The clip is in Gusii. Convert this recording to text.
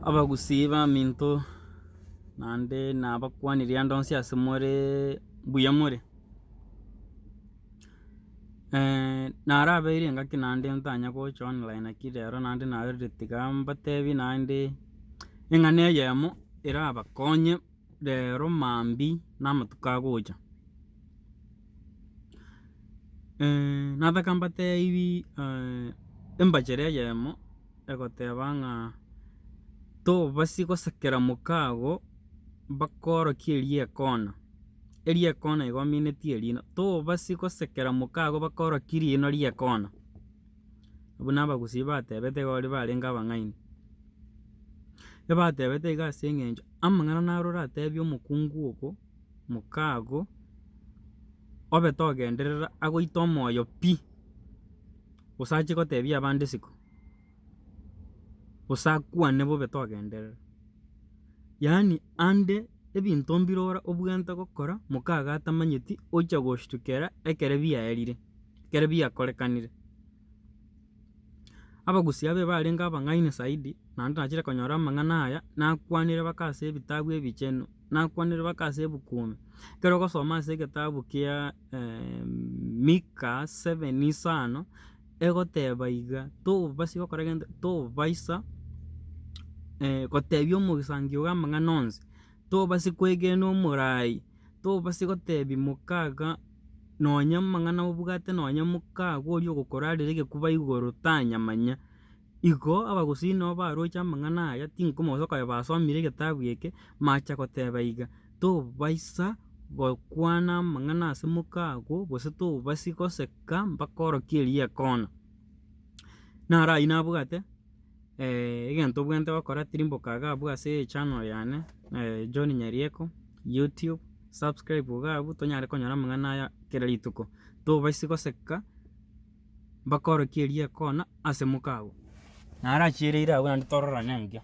Abagusii baminto naende nabakuani rende onsi ase more mbuya more, narabeire engaki naende ntanye gocha online naki rero naende narorire tiga mbatebie naende eng'ana eyemo erabakonye. Rero mambia namatuko agocha, nataka mbatebi embachera eyemo egoteba ng'a tobasie gosakera moka ago bakorokie erio ekona, erio ekona igo omineti erino, tobasie gosekera moka ago bakorokie rino rie ekona. Buna abagusii batebete iga oria barenge abang'aini. Ebatebete iga ase eng'encho amang'ana naro oratebie omokungu ogo, moka ago, obe togenderera agoite omoyo pi, gose ache gotebia abande isiko, gose akwane bobe togenderera. Yaani ande ebinto mbire ore obwenerete gokora, moka ago atamanyeti, oche goshtukera ekere biaerire. ekero biakorekanire. Abagusii abe barenge abang'aini zaidi, naende nachire konyora amang'ana aya, nakwanire baka ase ebitabu ebichenu, nakwanire baka ase ebuku ime. Ekero ogosoma ase egetabu kia Mika seven isano, egoteba iga, tobaisa gokora gento, tobaisa gotebia omogisangio ore amang'ana onsi, tobaisa kwegena omoraai, Tobasi gotebi mokaga nonya mang'ana obwate nonya mokago oria ogokorarera egekuba igoro tanyamanya. Igo abagusii nabo baroche amang'ana aya tinkomosa koba basomire egetabu eke macha goteba iga, tobaisa gokwana amang'ana ase mokago gose tobasi goseka mpaka orokie erigekona. Naro ayio nabwate. egento obwenerete gokora tiri mboka iga abwo ase echannel yane John Nyarieko YouTube, subscribe iga abwo tonyare konyora amang'ana aya kera rituko, tobaisi goseka bakorokie eriekona ase moka agwo. Naro achiereire agwo naende tororane engiya.